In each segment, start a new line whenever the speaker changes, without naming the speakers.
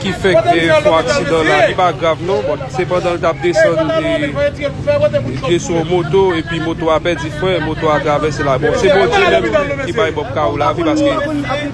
ki fèk te fò aksidan la li pa grav non bòt se pandan l tap desann li pye sou yon moto epi moto a pèdi fren moto a travèse la bon se Bondye menm ki bay Bob Karo lavi paske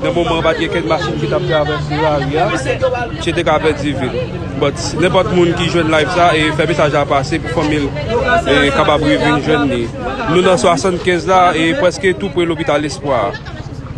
nan moman an pat gen kenn machin ki tap travèse lari a misye te ka pèdi vi l bòt nenpòt moun ki jwenn live sa e fè mesaj la pase pou fanmi l kapab revin jwenn li nou nan 75 la e prèske tou pre lopital Lespwa a.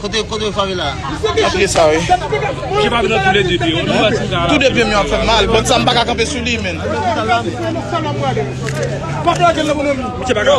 Kote kote favela. Nan pye sa wi. Pye pa nan
tou le 2 pye. Tou 2 pye m
yo ap fèm mal. Bon sa m pa ka kanpe sou li menn.
Pye
pa ka.